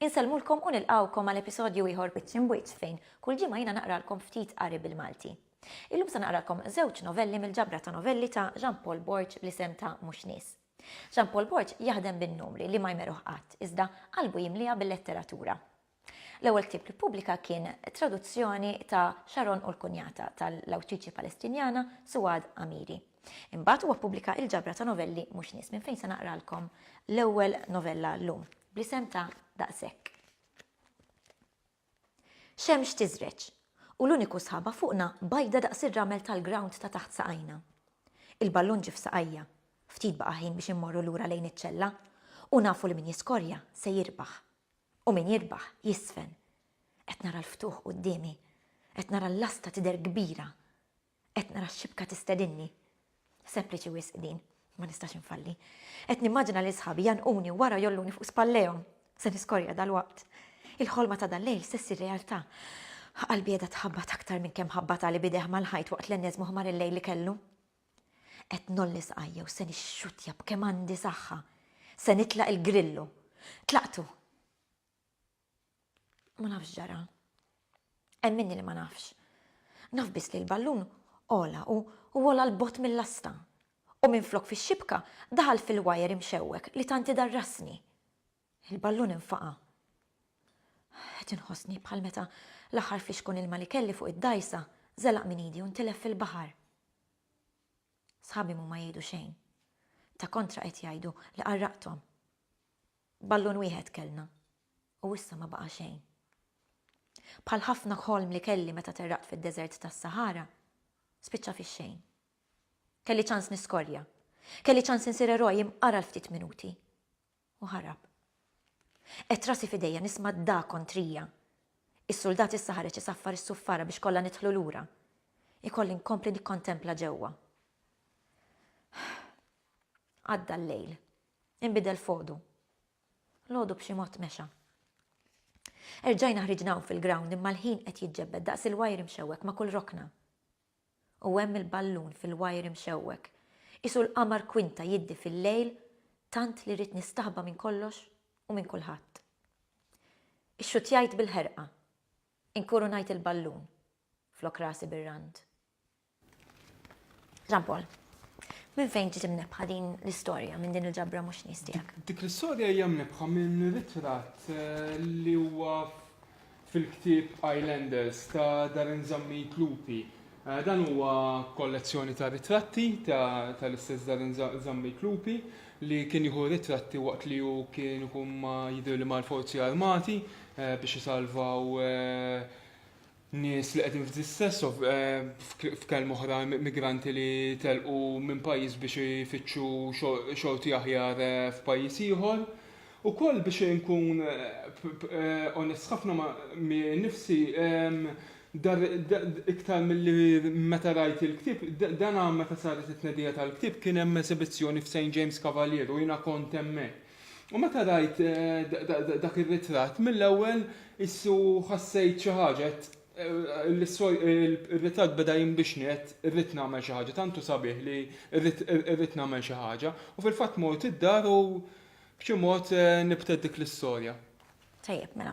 Insellmulkom u nilqawkom għal episodju ieħor Wiċċ Imwiċċ fejn kull ġimgħa jiena naqralkom ftit qari bil-Malti. Illum se naqralkom żewġ novelli mill-ġabra ta' novelli ta' Jean Paul Borg bl-isem ta' Mhux Nies. Jean Paul Borg jaħdem bin-numri li ma jmerruh qatt, iżda qalbu jimliha bil-letteratura. L-ewwel ktieb li ppubblika kien traduzzjoni ta' Sharon u l-Kunjata tal-awtriċi Palestinjana Suad Amiri. Imbagħad huwa ppubblika il-ġabra ta' novelli Mhux Nies minn fejn se naqralkom l-ewwel novella llum, bl-isem ta' Daqshekk. Xemx tiżreġ, u l-uniku sħaba fuqna bajda daqs ir-ramel tal-grawnd ta' taħt saqajna. Il-ballun ġie f'saqajja. Ftit baqa' ħin biex immorru lura lejn iċ-ċella, u nafu li min jiskorja se jirbaħ. U min jirbaħ jiżfen. Qed nara l-ftuħ quddiemi. Qed nara l-lasta tidher kbira. Qed nara x-xibka tistedinni. Sempliċi wisq din. Ma nistax infalli. Qed nimmaġina lil sħabi jgħannquni u wara jgħolluni fuq spallejhom. Se niskorja dalwaqt. Il-ħolma ta' dal-lejl se ssir realtà. Qalbi qiegħda tħabbat aktar minn kemm ħabbatha li b'idejh mal-ħajt waqt l-enneżmu ħmar il-lejl li kellu. Qed ngħolli sqajja u se nixxuttja b'kemm għandi saħħa. Se nitlaq il-Grillu. Tlaqtu! Ma nafx ġara. Hemm minni li ma nafx. Naf biss li l-ballun ola u ola l-bogħod mill-lasta. U minflok fix-xibka daħal fil-wajer imxewwek li tant idarrasni. Il-ballun infaqa'. Qed inħossni bħal meta l-aħħar flixkun ilma li kelli fuq id-dgħajsa żelaq minn idi u ntilef fil-baħar. Sħabi m'huma jgħidu xejn. Ta' kontra qed jgħidu li qarraqthom. Ballun wieħed kellna, u issa ma baqa' xejn. Bħal ħafna ħolm li kelli meta terraqt fid-deżert tas-Saħara, spiċċa fix-xejn. Kelli ċans niskorja. Kelli ċans insir eroj imqar għal ftit minuti. U ħarab. Qgħedt rasi f'idejja nisma' d-dagħa kontrija. Is-suldat issa ħareġ isaffar is-suffara biex kollha nidħlu lura. Ikolli nkompli nikkontempla ġewwa. Għadda l-lejl. Inbidel f'għodu. L-għodu b'xi mod mexa. Erġajna ħriġna hawn fil-ground imma l-ħin qed jiġġebbed daqs il-wire imxewwek ma' kull rokna. U hemm il-ballun fil-wire imxewwek. Qisu l-qamar kwinta jiddi fil-lejl tant li rrid nistaħba minn kollox u minn kulħadd. Ixxutjajt bil-ħerqa. Inkurunajt il-ballun flok rasi bir-rand. Jean Paul, minn fejn ġiet imnebbħa din l-istorja minn din il-ġabra mhux nies tiegħek? Dik l-istorja hija mnebbħa minn ritratt li huwa fil-ktieb Islanders ta' Darren Zammit Lupi. Dan huwa kollezzjoni ta' ritratti tal-istess Darren Zammit Lupi li kien jieħu ritratti waqt li hu kien ikun ma' jidhirli mal-Forzi Armati biex isalvaw nies li qegħdin f'distress, f'kelma oħra migranti li telqu minn pajjiż biex ifittxu xorti aħjar eh, f'pajjiż ieħor. Ukoll biex inkun eh, onest ħafna ma' nifsi ehm, iktar mill-li meta rajt il-ktib, dan meta saret it-tnedija tal-ktib kien hemm esibizzjoni f'St. James Cavalier u jiena kont hemmhekk. U meta rajt dak ir-ritratt, mill-ewwel issu ħassejt xi ħaġa, għedt, Ir-ritratt beda jinbixni, għedt, Irrid nagħmel xi ħaġa, tant hu sabiħ li rrid nagħmel xi ħaġa. U fil-fatt mort id-dar u b'xi mod nibtet dik l-istorja. Tajjeb, mela.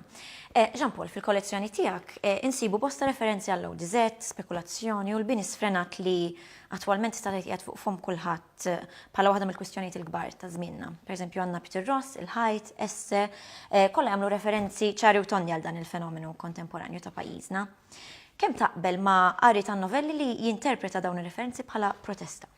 Jean Paul, fil-kollezzjoni tiegħek insibu bosta referenzi għall-Audi Z, spekulazzjoni u l-bini sfrenat li attwalment tista' tgħid qiegħed fuq fomm kulħadd bħala waħda mill-kwistjonijiet il-kbar ta' żmienna. Pereżempju għandna Peter Ross, il-ħajt, esse, kollha jagħmlu referenzi ċari u tonni għal dan il-fenomenu kontemporanju ta' pajjiżna. Kemm taqbel ma' qari tan-novelli li jinterpreta dawn ir-referenzi bħala protesta?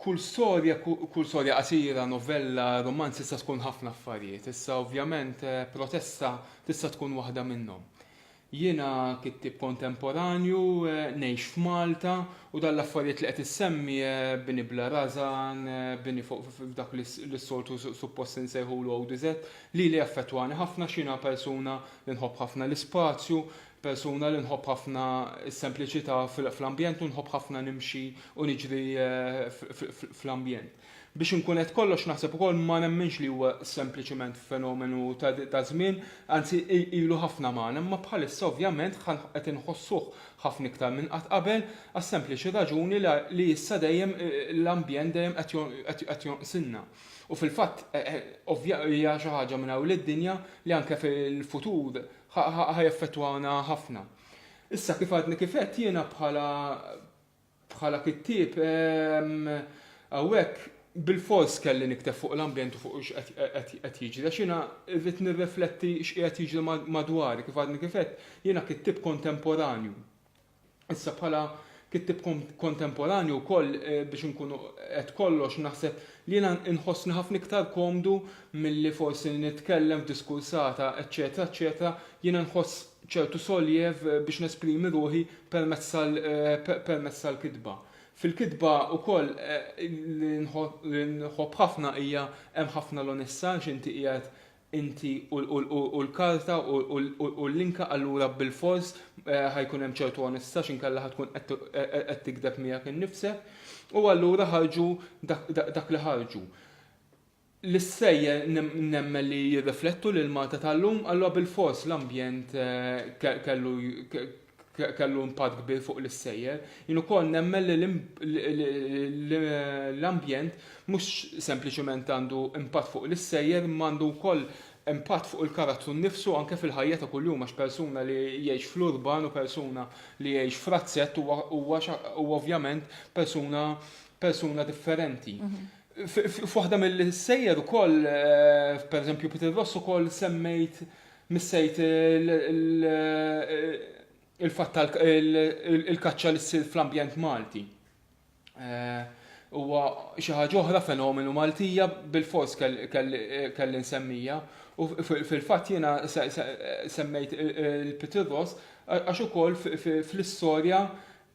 Kull storja, kull storja qasira, novella, rumanz tista' tkun ħafna affarijiet. Issa ovvjament Protesta tista' tkun waħda minnhom. Jiena kittieb kontemporanju, ngħix f'Malta u dan l-affarijiet li qed issemmi, bini bla rażan, bini fuq dak li s-soltu suppost insejħulu ODZ, lili jaffettwani ħafna għax jiena persuna li nħobb ħafna l-ispazju, Persuna li nħobb ħafna s-sempliċità fl-ambjent u nħobb ħafna nimxi u niġri fl-ambjent. Biex inkun għedt kollox naħseb ukoll ma nemminx li huwa sempliċiment fenomenu ta' żmien, anzi ilu ħafna magħna imma bħalissa ovvjament qed inħossuh ħafna iktar minn qatt qabel għas-sempliċi raġuni li issa dejjem l-ambjent dejjem qed jonqsilna. U fil-fatt hija xi ħaġa minn hawn lid-dinja li anke fil-futur Ħa ħa jaffettwawna ħafna. Issa kif għadni kif għedt jiena bħala bħala kittieb hawnhekk bilfors kelli nikteb fuq l-ambjent u fuq x'qed qed jiġri għax jiena rrid nirrifletti x'qiegħed jiġri madwari kif għadni kif għedt jiena kittieb kontemporanju. Issa bħala kittib kontemporanju wkoll biex inkunu qed kollox naħseb li jiena nħossni ħafna iktar komdu milli forsi li nitkellem f'diskursata eċċetera eċċetera jiena nħoss ċertu soljev biex nesprimi ruħi permezz permezz tal-kitba. Fil-kitba wkoll li nħobb ħafna hija hemm ħafna l-onestà għax inti qiegħed inti u l-karta u l-linka allura bilfors ħa jkun hemm ċertu onestà għax inkella ħa tkun qed tigdeb miegħek innifsek. U allura ħarġu dak li ħarġu. L-istejjer nemmen li jirriflettu lil Malta tal-lum, allura bilfors l-ambjent eh, kellu impatt kbir fuq l-issejjer. Jien ukoll nemmen li l-ambjent mhux sempliċement għandu impatt fuq l-issejjer imma għandu wkoll impatt fuq il-karattru nnifsu anke fil-ħajja ta' kuljum għax persuna li jgħix fl-urban u persuna li jgħix f'razzett huwa ovvjament persuna persuna differenti. F'waħda mill-issejjer ukoll, pereżempju Peter Ross ukoll semmejt Missejt il-fatt tal-kaċċa li ssir fl-ambjent Malti. Huwa xi ħaġa oħra fenomenu Maltija bilfors kelli nsemmija. U fil-fatt jiena semmejt il-Pitirros għax ukoll fl-istorja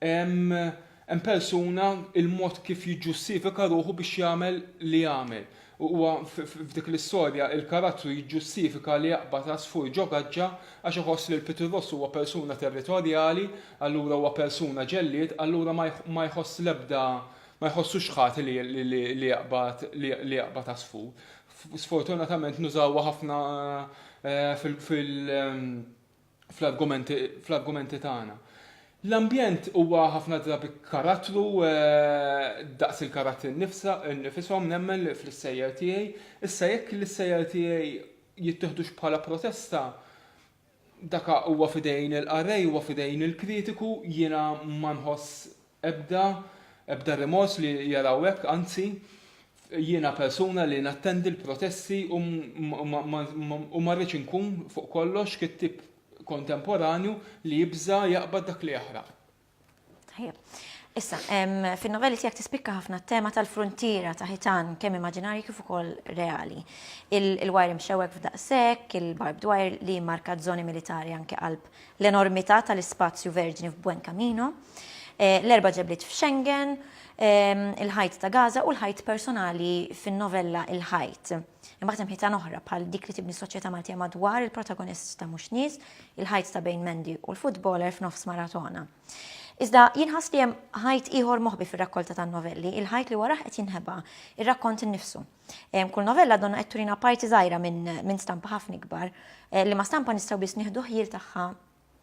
Hemm persuna il-mod kif jiġġustifika ruħu biex jagħmel li jagħmel. Huwa f'dik l-istorja il-karattru jiġġustifika li jaqbad għasfur ġo gaġġa għax iħoss li l-pitirross huwa persuna territorjali, allura huwa persuna ġellied, allura ma jħoss l-ebda ma jħossux ħati li jaqbad li jaqbad għasfur. Sfortunatament nużawha ħafna fil fl-argumenti tagħna. L-ambjent huwa ħafna drabi karattru daqs il-karattri nnifishom nemmen li fl-issejjer tiegħi. Issa jekk l-issejjer tiegħi jittieħdux bħala protesta, daka huwa fidejn il-qarrej, huwa fidejn il-kritiku, jiena ma nħoss Ebda, ebda rimors li jaraw hekk, anzi, jiena persuna li nattendi l-protesti u u ma rridx inkun, fuq kollox, kittieb kontemporanju li jibża' jaqbad dak li jaħraq. Tajjeb. Issa, fin-novelli tiegħek tispikka ħafna t-tema tal-fruntiera ta' ħitan kemm immaġinarji kif ukoll reali. Il-wire imxewwek f'daqshekk, il-barbed wire li jimmarka z-zoni militari anke qalb l-enormità tal-ispazju verġni f'Buen Camino, l-erba' ġebliet f'Xengen, il-ħajt ta' Gaza u l-ħajt personali fin-novella Il-Ħajt. Imbagħad hemm ħitan oħra bħal dik li tibni s-soċjetà Maltija madwar il-protagonist ta' Mhux Nies, il-ħajt ta' bejn Mandy u l-futboler f'nofs maratona. Iżda jien ħass li hemm ħajt ieħor moħbi fir-rakkolta tan-novelli, il-ħajt li warajh qed jinħeba, ir-rakkont innifsu. Kull novella donna qed turina parti żgħira minn stampa ħafna ikbar eh, li ma stampa nistgħu biss nieħdu ħjiel tagħha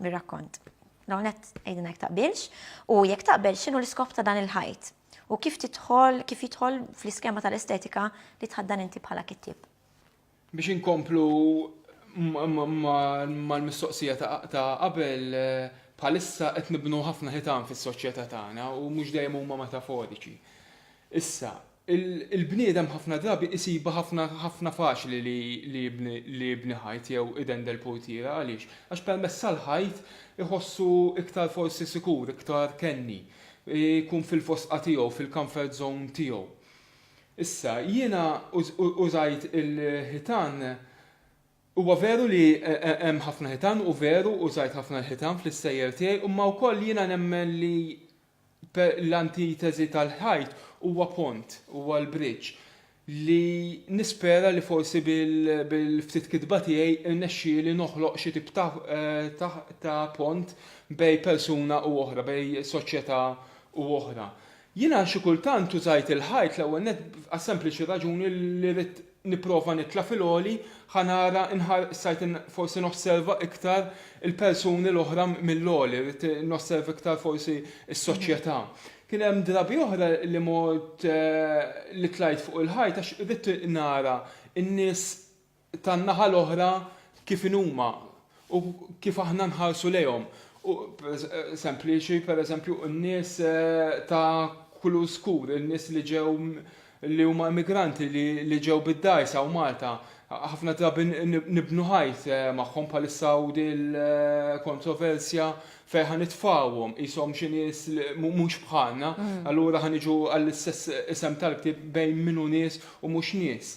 mir-rakkont. Dawnet għidina jek taqbilx u jekk taqbel x'inhu l-iskop ta' dan il-ħajt u kif titħol kif jidħol fl-iskema tal-estetika li tħaddan inti bħala kittib. Biex inkomplu mal-mistoqsija ta' qabel eh, bħalissa qed nibnu ħafna ħitan fis-soċjetà tagħna u mhux dejjem huma metaforiċi. Issa, Il-bniedem ħafna drabi isibha ħafna ħafna faċli li jibni ħajt jew idendel portiera. Għaliex? Għax permezz tal-ħajt iħossu iktar forsi sikur, iktar kenni, ikun fil-fosqa tiegħu, fil-comfort zone tiegħu. Issa, jiena użajt il-ħitan, huwa veru li hemm ħafna ħitan u veru użajt ħafna l-ħitan fl-issejjer tiegħi imma wkoll jiena nemmen li L-antiteżi tal-ħajt huwa pont, huwa l-bridge, li nispera li forsi bil-ftit kitba tiegħi rnexxieli noħloq xi tip ta' pont bejn persuna u oħra, bejn soċjetà u oħra. Jiena xi kultant użajt il-ħajt l-ewwel nett għas-sempliċi raġuni li ridt nipprova nitla' fil-għoli, ħa nara, inħar, stajt in, forsi nosserva iktar il-persuni l-oħra mill-għoli, ridt nosserva iktar forsi s-soċjetà. Kien hemm drabi oħra li mort, li tlajt fuq il-ħajt għax ridt nara n-nies tan-naħa l-oħra kif inhuma. u kif aħna nħarsu lejhom, u sempliċi pereżempju n-nies ta' kulur skur, in-nies li ġew li huma immigranti li ġew bid-dgħajsa hawn Malta, ħafna drabi nibnu ħajt magħhom bħalissa hawn din il-kontroversja fejn ħa nitfgħuhom qishom xi nies mhux bħalna, allura ħa niġu għall-istess isem tal-ktieb bejn min hu nies u mhux nies.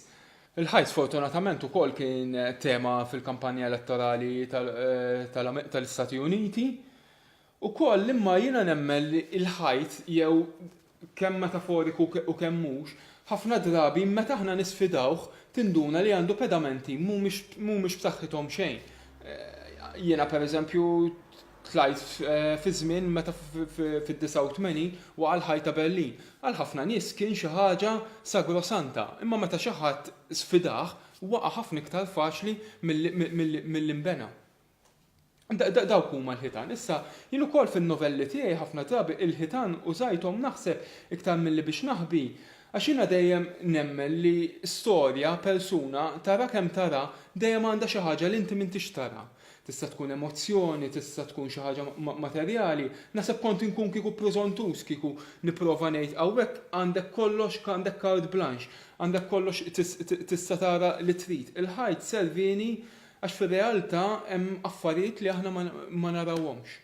Il-ħajt sfortunatament ukoll kien tema fil-kampanja elettorali tal-Istati Uniti ukoll imma jiena nemmen li l-ħajt jew kemm metaforiku u kemm mhux ħafna drabi meta aħna nisfidawh tinduna li għandu pedamenti mhumiex b'saħħithom xejn. Jiena pereżempju Tlajt fi żmien meta fid-89 waqa' l-Ħajt ta' Berlin. Għal ħafna nies kien xi ħaġa sagrosanta, imma meta xi ħadd sfidah, waqa' ħafna iktar faċli milli nbena. Dawk huma l-ħitan. Issa, jien ukoll fin-novelli tiegħi ħafna drabi il-ħitan użajthom naħseb iktar milli biex naħbi, għax jiena dejjem nemmen li storja, persuna, tara kemm tara, dejjem għandha xi ħaġa li inti m'intix tara. Tista' tkun emozzjoni, tista' tkun xi ħaġa materjali. Naħseb kont inkun kieku preżontuż kieku nipprova ngħid hawnhekk għandek kollox, għandek carte blanche, għandek kollox tista' tara li trid. Il-ħajt servieni għax fir-realtà hemm affarijiet li aħna ma narawhomx.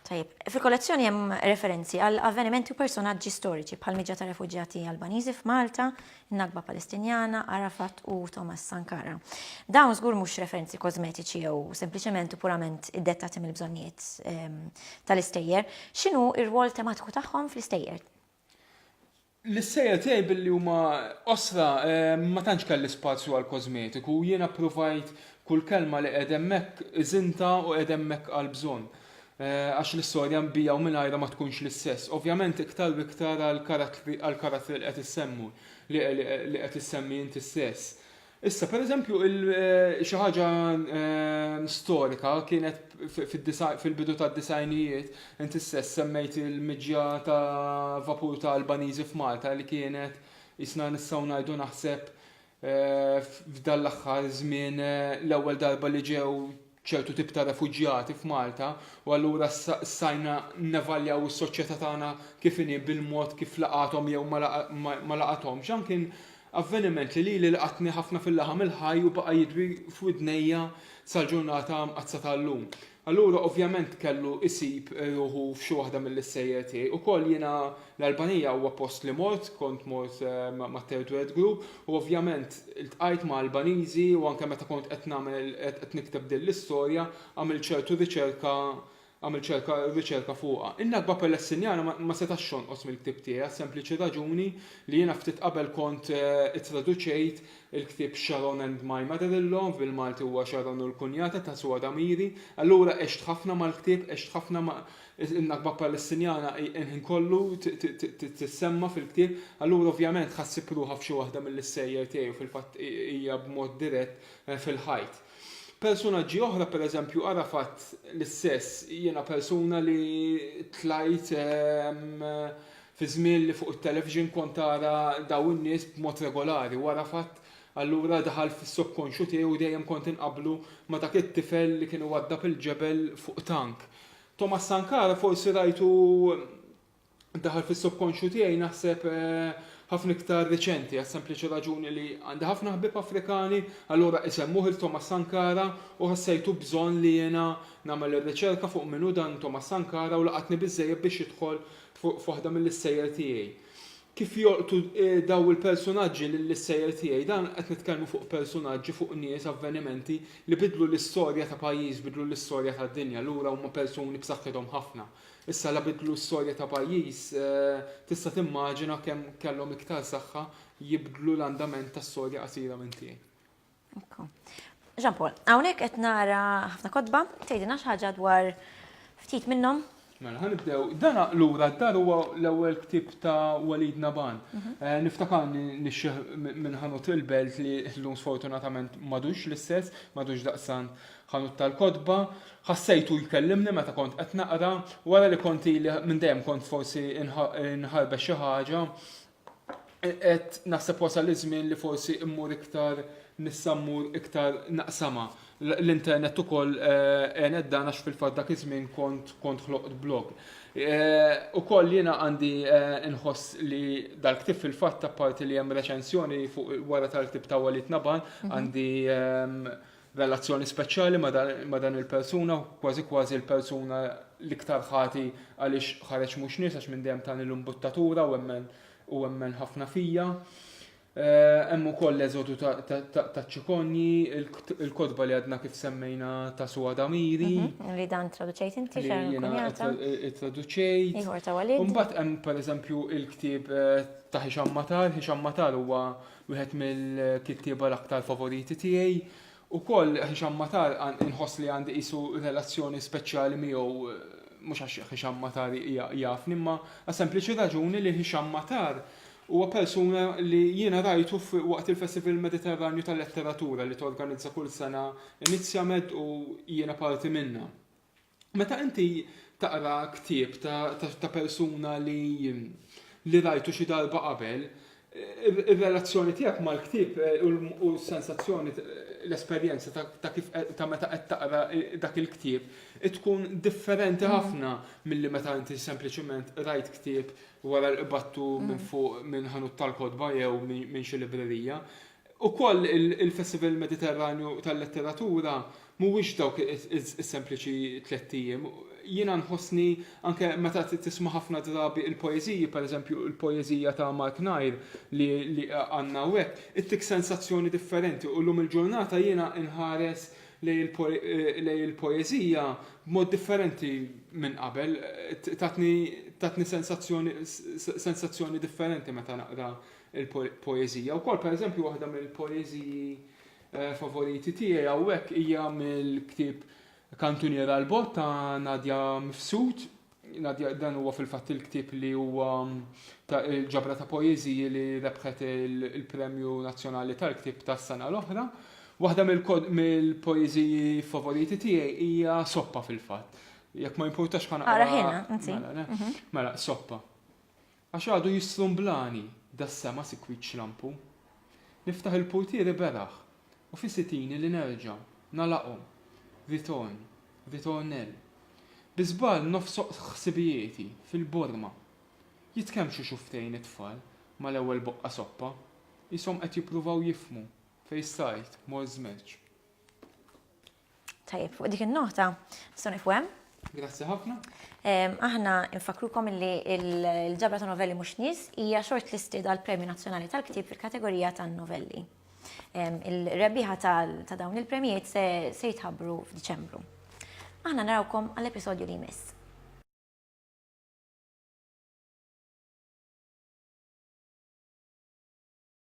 Tajjeb. Fil-kollezzjoni hemm referenzi għal avvenimenti u personaġġi storiċi bħal miġja ta' refuġjati Albaniżi f'Malta, in-Nagba Palestinjana, Arafat u Thomas Sankara. Dawn żgur mhux referenzi kożmetiċi jew sempliċement u purament iddettati mill-bżonnijiet ehm, tal-istejjer. X'inhu r-rwol tematiku tagħhom fl-istejjer? L-issejjer tiegħi billi huma qosra ma tantx kelli spazju għall-kożmetiku u jiena ppruvajt kull kelma li qiegħed hemmhekk iżinta u qiegħed hemmhekk għall-bżonn. Għax l-istorja bija u mingħajra ma tkunx l-istess. Ovvjament iktar u iktar għall-karattri li qed issemmu, li qed issemmi inti stess. Issa, per eżempju, xi ħaġa storika kienet fil-bidu tad-disgħinijiet, inti stess semmejt il-miġja ta' vapur ta' Albaniżi f'Malta li kienet isna nistgħu ngħidu naħseb f'dan l-aħħar żmien l-ewwel darba li ġew ċertu tip ta' refuġjati f'Malta u allura stajna nevaljaw is-soċjetà tagħna kif inhi bil-mod kif laqathom jew ma laqathomx. Dan kien avveniment li lili laqatni ħafna fil-laħam il-ħaj u baqa' jidwi f'widnejja sal-ġurnata mqaddsa tal-lum. Allura ovvjament kellu jsib ruħu f'xi waħda mill-issejjer tiegħi. Ukoll jiena L-Albanija huwa post li mort, kont mort ma' Third World Group u ovvjament iltqajt ma' Albaniżi u anke meta kont qed nagħmel qed nikteb din l-istorja għamilt ċertu riċerka għamilt ċerka riċerka fuqha. In-Nakba Palestinjana ma ma setax jonqos mill-ktieb tiegħi għas-sempliċi raġuni li jiena ftit qabel kont ittraduċejt il-ktieb Sharon and My Mother-in-Law, bil-Malti huwa Sharon u l-Kunjata ta' Suor Amiri, allura għext ħafna mal-ktieb, għext ħafna ma' In-Nakba Palestinjana hi l-ħin kollu tissemma fil-ktieb, allura ovvjament ħa ssib ruħha f'xi waħda mill-issejjer tiegħi u fil-fatt hija b'mod dirett fil-ħajt. Persunaġġi oħra, pereżempju Arafat l-istess, jiena persuna li tlajt fi żmien li fuq it-television kont ara daw in-nies b'mod regolari u Arafat allura daħal fis-subkonxju tiegħi u dejjem kont inqabblu ma' dak it-tifel li kien iwaddab il-ġebel fuq tank. Thomas Sankara forsi rajtu daħal fis-subkonxju tiegħi naħseb ħafna iktar riċenti għas-sempliċi raġuni li għandi ħafna ħbieb Afrikani allura isemmuh il Thomas Sankara u ħassejtu bżonn li jiena nagħmel ir-riċerka fuq min hu dan Thomas Sankara u laqatni biżżejjed biex jidħol f'waħda mill-issejjer tiegħi. Kif jolqtu dawn il-persunaġġi lill-issejjer tiegħi? Dan qed nitkellmu fuq persunaġġi, fuq nies, avvenimenti li biddlu l-istorja ta' pajjiż, biddlu l-istorja tad-dinja. Lura huma persuni b'saħħithom ħafna. Issa la biddlu storja ta' pajjiż, tista' timmaġina kemm kellhom iktar saħħa jibdlu l-andament ta' storja qasira minn tiegħi. Jean Paul, hawnhekk qed nara ħafna kotba, tgħidilna xi ħaġa dwar ftit minnhom? Mela, ħanibdew. Dan lura d-dar huwa l-ewwel ktieb ta' Walid Naban. Mhm. Eh, niftakar nixxieħ minn ħanut il-belt li llum sfortunatament madux l-istess, madux daqsan ħanut tal-kotba. Ħassejtu jkellimni meta kont qed naqra, wara li konti li minn dejjem kont forsi nħarbe xi ħaġa, qed naħseb wasal iż-żmien li forsi mmur iktar nista' mmur iktar naqsama. L-internet ukoll eh, għenet dan għax fil-fatt dak iż-żmien kont kont ħloqt blog. Eh, ukoll jiena għandi eh, nħoss li dal-ktib fil-fatt apparti li hemm reċensjoni fuq wara tal-ktib ta' Walid Naban mhm. għandi ehm, relazzjoni speċjali ma' dan il-persuna, kważi kważi l-persuna l-iktar ħati għaliex ħareġ mhux nies għax minn dejjem tani l-imbuttatura u emmen ħafna fija. Eh, hemm ukoll l-eżodu ta' ċikonji, il-kodba li għadna kif semmejna ta' su għadamiri. Mhm, li dan traduċejt inti xejn. Jena traduċejt. Iħor ta' walid. Umbat hemm per eżempju il-ktib eh, ta' Hisham Matar. Hisham Matar huwa Wieħed mill-kittieba l-aktar favoriti tiegħi. Ukoll Hisham Matar inħoss li għandi qisu relazzjoni speċjali miegħu mhux għax Hisham Matar jafni imma għas-sempliċi raġuni li Hisham Matar huwa persuna li jiena rajtu waqt il-Festival Mediterranju tal-Letteratura li torganizza kull sena Inizjamed u jiena parti minnha. Meta inti taqra ktieb ta' persuna li li rajtu xi darba qabel, ir-relazzjoni tiegħek mal-ktieb u s-sensazzjoni l-esperjenza ta' kif ta' meta qed taqra dak il-ktieb tkun differenti ħafna milli meta inti sempliċement rajt ktieb wara li qbadtu minn fuq minn ħanut tal-kotba jew minn xi librerija. Ukoll il-Festival Mediterranju tal-Letteratura mhuwiex dawk is-sempliċi tlett ijiem. Jiena nħossni anke meta tisma' ħafna drabi il-poeżiji, pereżempju l-poeżija ta' Mark Nair li għandna hawnhekk, ittik sensazzjoni differenti u llum il-ġurnata jiena nħares lejn il-poeżija b'mod differenti minn qabel. Tatni sensazzjoni differenti meta naqra il-poeżija. Wkoll pereżempju waħda mill-poeżiji eh, favoriti tiegħi hawnhekk hija mill-ktieb Kantunier għal bot ta' Nadja Mifsud. Nadja dan huwa fil-fatt il-ktieb li huwa mm, ta' il-ġabra ta' poeżiji li rebħet il-Premju Nazzjonali tal-Ktieb tas-sena l-oħra. Waħda mill-poeżiji favoriti tiegħi hija soppa fil-fatt. Jekk ma jimpurtax ħana. Ara ħina, mela, mhm. mela, soppa. Għax għadu jistrumblani das-sema sikwit xlampu. Niftaħ il-purtieri beraħ u fi sitini li nerġa' nagħlaqhom. Ritorn, ritornell. Bi żball nofsoq ħsibijieti fil-borma. Jitkemmxu xufftejn it-tfal mal-ewwel boqqa soppa, qishom qed jippruvaw jifhmu fejn stajt mort żmerċ. Tajjeb, fuq dik in-nota, nistgħu nifu hemm. Grazzi ħafna. Aħna nfakrukom li l-ġabra ta' novelli mhux nies hija shortlisted għal Premju Nazzjonali tal-Ktieb fil-kategorija tan-novelli. Il-rebbieħa ta' dawn il-premjiet se jitħabbru f'Diċembru. Aħna narawkom għall-episodju li jmiss.